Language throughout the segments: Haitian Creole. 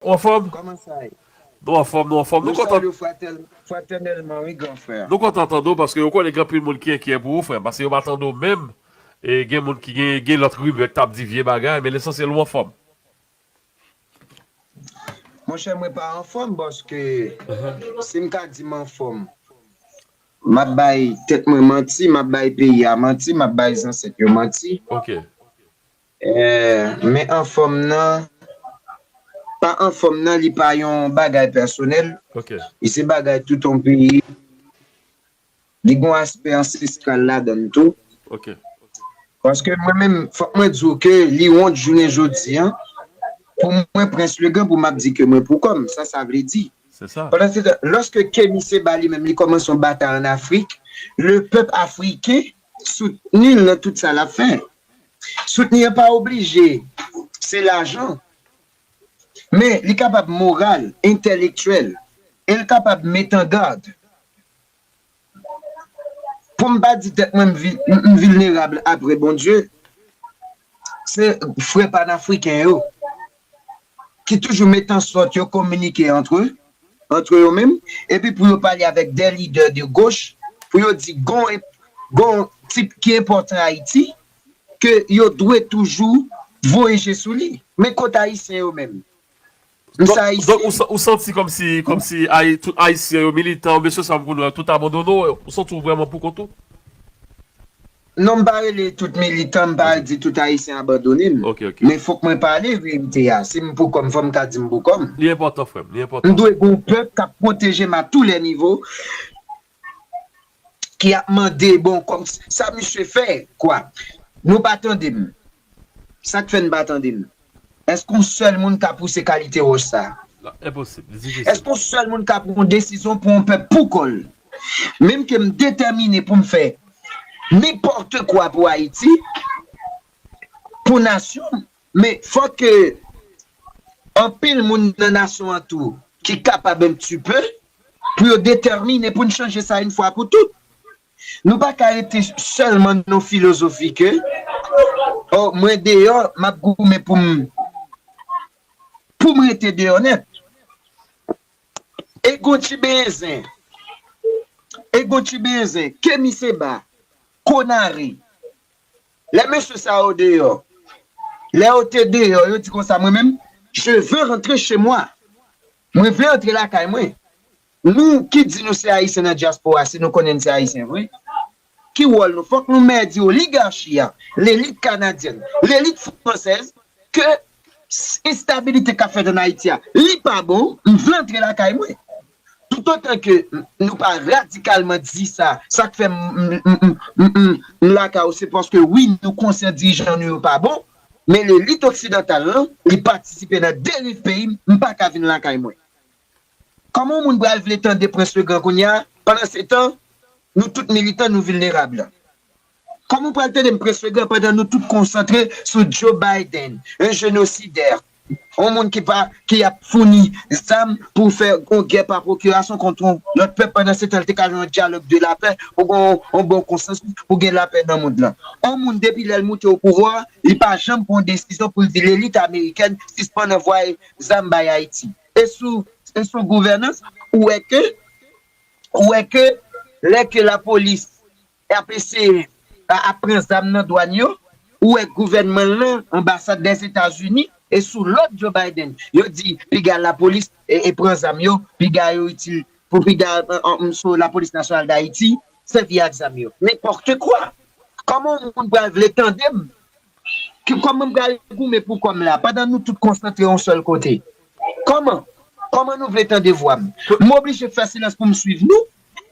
Ou anfòm? Kòman sa ye? Nou anfòm, nou anfòm. Nou kontan. Nou salye w fratènèlman wi gran frè. Nou kontan tande w paske ou konnen gen anpil moun ki enkyè pou ou frè m paske yo pa tande w menm e gen moun ki gen gen lòt rimè k t ap di vye bagay men lesansyèl ou anfòm. Monchè mwen pa anfòm paske si m ta di m anfòm m ap bay tèt mwen manti, m ap bay peyi a manti, m ap bay zansèt yo manti. Ok. Eeh men anfòm nan pa anfòm nan li pa yon bagay pèsonèl li se bagay tout yon peyi li gon aspè ansestral ladann tou paske mwen menm fòk mwen di w ke li wont jounen jodi an pou mwen prens legrand pou m ap di ke mwen pou kò m sa sa vle di lòske kemi seba li menm li kòmanse yon batay an afrik le pèp afriken soutni l nan tout sa l ap fè. Soutni an pa oblije se lajan, men li kapab moral, entèlektyèl e l kapab metangad. Pou m pa di tèt mwen m vilnerab apre Bondye, Se frè panafriken yo ki toujou met an sòt yo kominike antre antre yo menm epi pou yo pale avèk dè lidè de goch pou yo di gon gon tip ki enpòtan Ayiti ke yo dwe toujou voye je sou li. Men kot Ayisyen yo menm? Donk ou santi kòmsi tout Ayisyen yo, militan yo, mesye sa m konnen yo, tout abandone w? Ou santi w vrèman poukont ou? Non m pa rele tout militan, m pa di tout Ayisyen abandone m. Men fòk mwen pale verite a. Si m poukò m, fò m ka di m poukò m. Li enpòtan frè m, li enpòtan. M dwe gen yon pèp k ap pwoteje m a tou lè nivo. ki ap mande bon kòm sa misye fè kwa nou pa tande m sak fè n pa tande m èske yon sèl moun ka pouse kalite wòch sa èske yon sèl moun ka pran yon desizyon pou yon pèp pou kòl menm ke m detèmine pou m fè nenpòte kwa pou ayiti pou nasyon m Men fòk anpil moun nan nasyon an tou ki kapab un pti peu pou yo detèmine pou n chanje sa yn fwa pou tout. Nou pa ka rete sèlman nan filozofi ke oh mwen deyò m ap goumen pou m pou m rete deyò nèt. E gon ti benyen zen e gon ti benyen zen Kemi Seba, Konare, Lè mesye sa yo deyò. Lè yo te deyò, yo di konsa, Mwen menm, je veux rentrer chez moi. Mwen vle antre lakay mwen. Nou ki di nou se Ayisyen nan dyaspora, si nou konnen n se Ayisyen vre, ki wòl nou? Fòk nou mè di oligarchi a, lelit kanadyèn, lelit fransèz, ke enstabilite k ap fèt ann Ayiti a, li pa bon, m vle antre lakay mwen. Toutotan ke nou pa radikalman di sa, sa k fè m lakay ou se paske wi nou konsyan dirijan nou yo pa bon, men lelit oksidantal lan li patisipe nan deriv peyi m, m pa ka vin lakay mwen. Kòman yon moun pral vle tande Prens Legrand kounye a, pandan se tan nou tout militan nou vilnerab la? Kòman w pral tande m près legan pandan nou tout konsantre sou Joe Biden, yon jenosidè, yon moun ki pa, ki ap founi zam pou fè yon gè pa pwokirasyon kont yon lòt pèp pandan se tan l te ka gen yon dyalòg de lapè pou gen yon bon konsansis pou gen lapè nan mond lan. Yon moun depi lè l moute o pouvwa a, li pa janm pran yon desizyon pou l di lelit amerikèn sispann anvwaye zam bay Ayiti. E sou, e sou gouvènans, ou wè ke, ou wè ke lè ke lapolis Ap eseye ap pran zam nan dwàn yo, ou wè gouvènman l lan, anbasad Dèzetazini e sou lòd Joe Biden, yo di piga lapolis pran zam yo, piga yo itil pou piga so lapolis nasyonal Dayiti sèvi ak zam yo. Nenpòte kwa! Kòman yon moun pral vle tande m? Kòman m pral goumen pou kò m la pandan nou tout konsantre yon sèl kote? Kòman? Kòman nou vle tande vwa m? M oblije fè silans pou m swiv nou?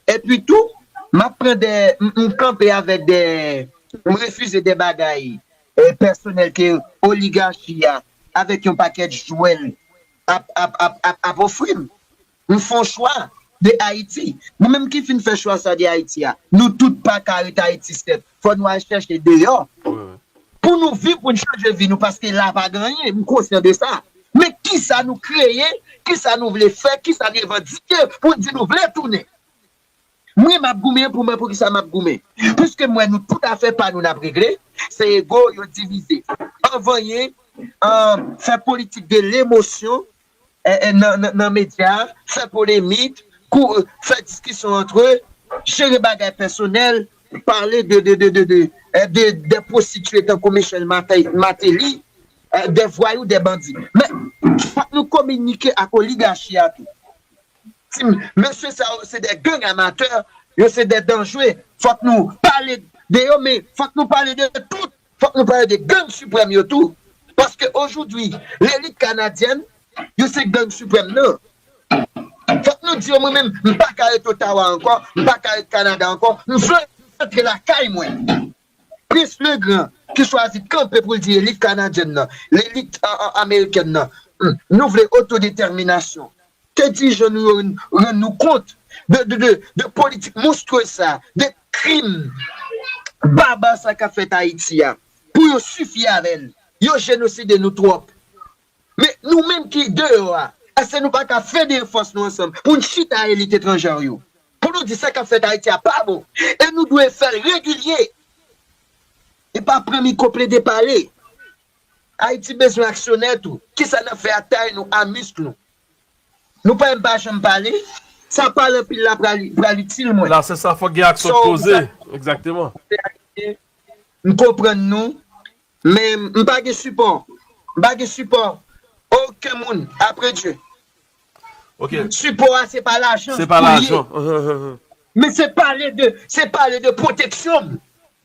Epi tou, m ap pran dè, m kanpe avèk dè, m refize dè bagay pèsonèl ke oligachi a avèk yon pakèt jwè l ap, ap, ap, ap, ap ofri m. M fè yon chwa de Ayiti. Nou menm ki fin fè chwa sa de Ayiti a, nou tout pa ka ret Ayiti sèt. Fò nou al chèche deyò. Pou nou viv, pou n chanje vi nou paske la pa gen anyen, m konsyan de sa. Men kisa nou kreye, kisa nou vle fè, kisa n revandike pou n di nou vle tounen. Mwen m ap goumen pou mwen poukisa m ap goumen. Piske m wè nou tout afè pa nou n ap regle, se ego yo divize. Anvanyen, fè politik de lemosyon, nan medya, fè polemik, fè diskisyon antre, jere bagay pèsonèl, pale de pwostitye tankou Michel Martelly, de vwayou, de bandi. Men, fòk nou kominike ak oligachi a tou. Di m, mesye sa yo se de gang amatè, yo se de danjre, fòk nou pale de yo, men fòk nou pale de tout. Fòk nou pale de gang siprèm yo tou, paske ojoudwi lelit kanadyèn yo se gang siprèm nan. Fòk nou di yo mwen menm m pa ka ret Ottawa ankò, m pa ka ret Kanada ankò, m vle rantre lakay mwen. Prince le Grand ki chwazi kanpe pou l di lelit kanadyèn nan, lelit amerikèn nan, nou vle otodetèminasyon, Te di je nou yo rann nou kont de politik monstrueuse sa, de krim barbare sa kap fèt Ayiti a, pou yo sifi avè l. Yo jenoside nou twòp. Men nou menm ki deyò a, èske nou pa ka federe fòs nou ansanm pou n chita a elit etranjè yo, pou nou di sa kap fèt Ayiti a pa bon e nou dwe fè l regilye e pa pran mikwo plede pale. Ayiti bezwen aksyonè tou. Kisa nap fè ak tay nou a misk nou. Nou pa em pa janm pale. Sa pale anpil la pral itil mwen. La se sa fok gen aksyon t poze exactement. M konprann nou men m pa gen sipò m pa gen sipò oken moun apre Dye sipò a se pa lajan pou l ye men se pale de se pale de pwoteksyon m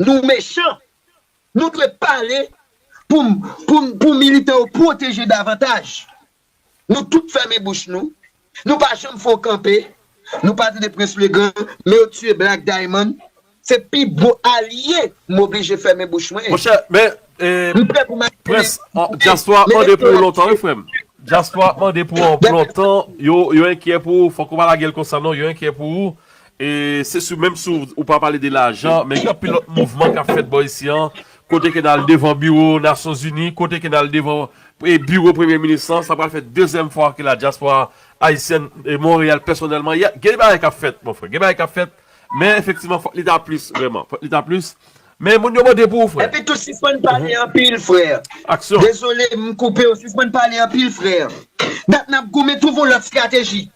nou mechan Nou dwe pale pou militan yo pwoteje davantaj. Nou tout fèmen bouch nou. Nou pa janm fè w kanpe. Nou pa tande Prince Le Grand, men yo tiye Black Diamond. Se pi gwo alye m oblije fèmen bouch mwen. Monchè, men, Prince, dyaspora ap mande pou ou lontan wi frè m. Dyaspora ap mande pou ou anpl lontan. Yo enkyè pou ou. Fòk ou pa lage l konsa non. Yo enkyè pou ou. Se sou menm sou ou pa pale de lajan, men gen anpil lòt mouvman k ap fèt bò isi an, kote ke n al devan biwo Nasyon Zini, kote ke n al devan biwo Premye Minis lan, sa pral fè dezyèm fwa ke la dyaspora Ayisyèn e Monreyal pèsonèlman, gen bagay k ap fèt, mon frè, gen bagay k ap fèt, men efektivman fòk li ta plis vrèman, fòk li ta plis, Men moun yo mande pou ou frè. Epitou sispann pale anpil frère. Aksyon. Dezole m koupew sispann pale anpil frère. Dat nap goumen twouve yon lòt strateji.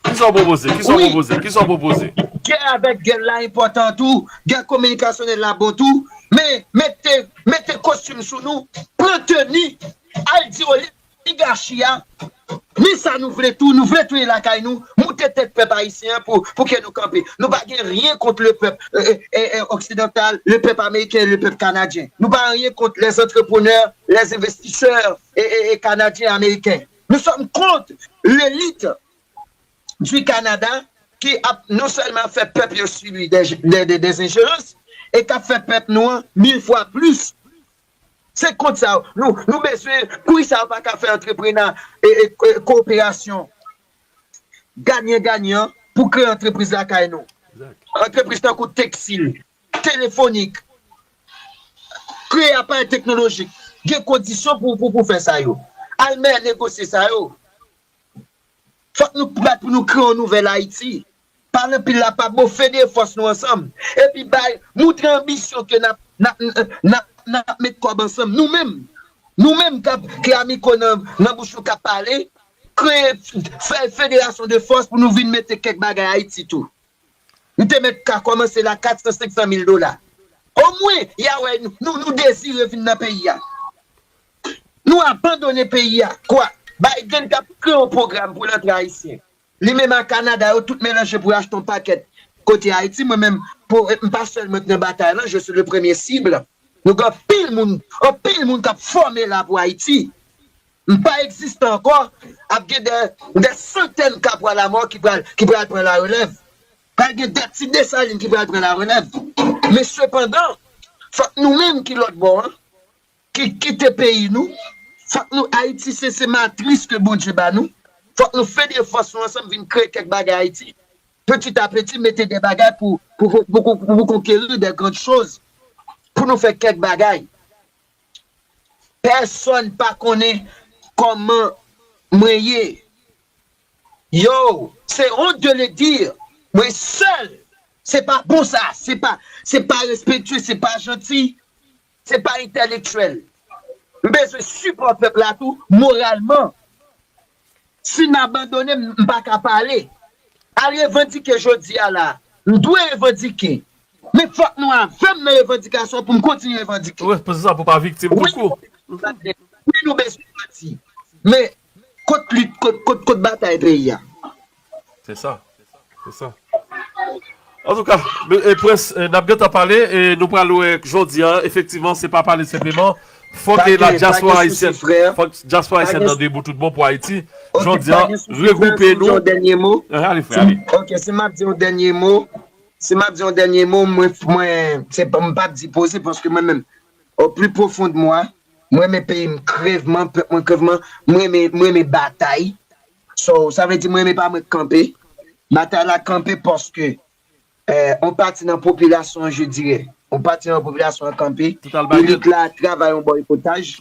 Kisa w pwopoze? Kisa w Wi. pwopoze? Kisa w pwopoze? Gè avèk gèl la enpòtan tou, gè kominikasyonèl la bon tou, men mete mete kostim sou nou, pran teni, al di olive. Piga chia, men sa nou vle tou, nou vle tounen lakay nou, moute tèt pèp ayisyen an pou kè nou kanpe. Nou pa gen ryen kont le pèp oksidantal, le pèp ameriken, le pèp kanadyen. Nou pa anyen kont les antreprenè, les envestisè kanadyen e ameriken. Nou sòm kont lelit di Kanada ki ap non sèlman ap fè pèp yo sibi des enjerans e k ap fè pèp nou an mil fwa plis. Se kont sa yo nou nou bezwen poukisa yo paka fè antreprena koperasyon ganyan ganyan pou kreye antrepriz lakay nou antrepriz tankou teksil telefonik kreye aparèy teknolojik gen kondisyon pou pou fè sa yo al mè negosye sa yo fòk nou bat pou nou kreye yon nouvèl ayiti. Pale anpil la pa bon fede fòs nou ansanm epi bay moutre anbisyon ke nap nap met kòb ansanm nou menm nou menm kap ke amiko nan bouch nou kap pale kreye fè federasyon de fòs pou nou vin mete kèk bagay ayiti tou nou te mèt ka kòmanse la 400 500 mil dola omwen ya wè nou nou dezire vin nan peyi a nou abandone peyi a kwa Biden tap kreye yon pwogram pou l antre ayisyen Li menm a Canada yo tout melanje pou yo achte yon pakèt kote Haïti mwen menm pou m pa sèl mwen k nan batay lan je suis le premier cible nou gen anpil moun anpil moun kap fòme la pou Haïti m pa egziste ankò ap gen dè dè santèn kapwa la mò ki pral ki pral pran la relèv pral gen dè ti Dessalines ki pral pran la relèv men sepandan fòk nou menm ki lòt bò an. ki kite peyi nou fòk nou ayiti se se matris ke Bondye ba nou fòk nou fè de fòs nou ansanm vin kreye kèk bagay ayiti peti a peti mete de bagay pou pou konkeri de grand choz pou nou fè kèk bagay pèsòn pa konnen kòman mwen ye yow se honte de le dire mwen sèl se pa bon sa se pa se pa respektye se pa janti Se pa entèlektyèl. M bezwen sipò pèp la tou moralman. Si m abandone, m pa ka pale. Al revandike jodi a la. M dwe revandike. Men fòk nou avè m nan revandikasyon an pou m kontinye revandike. Wi, nou bezwen pati. Men Kot lit kot kot batay peyi a. Se sa se sa. Antouka e prince nap gentan pale e nou pral wè jodi an efektivman se pa pale senpleman fòk e la dyaspora ayisyèn fòk dyaspora ayisyèn nan debou tout bon pou ayiti jodi an regroupe nou ehe ale frè ale. Ok si map di yon dènye mo si map di yon dènye mo mwen mwen se m pap di poze paske mwen menm Au plus profond de moi, m renmen peyi m krevman, pèp mwen krevman, m renmen, m renmen batay, so, sa vle di m renmen pa mwen k kanpe, batay la kanpe paske on pati nan popilasyon an je dirè, on pati nan popilasyon an kanpe, elit la travay on boykotaj,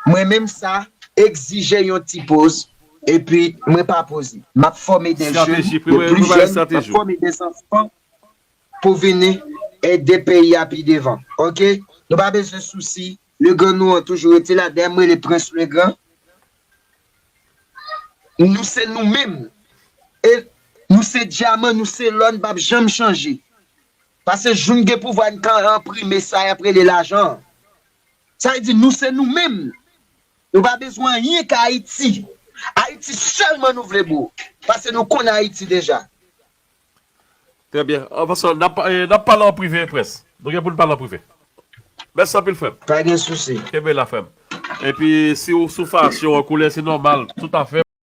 mwen menm sa egzije yon ti poz, epi mwen pa poze, m ap fòme de jèn, de plis jèn, m ap fòme de zanfan, pou vini ede peyi a pi devan ok nou pa bezwen sousi Legrand nou an toujou rete la dayè m rele Prince Legrand nou se nou menm e nou se dyaman nou se lò n p ap janm chanje pase jou n gen pouvwa n ka enprime sa y ap rele lajan an sa vle di nou se nou menm nou pa bezwen anyen k Ayiti Ayiti sèlman nou vle bro pase nou konn Ayiti deja. Trè byen. Paske nap nap pale an prive prince. Nou gen poun pale an prive. Mèsi anpil frèm. Pa gen sousi. Kenbe la frèm. Epi si ou sou fasyon an koulè se nòmal tout afè.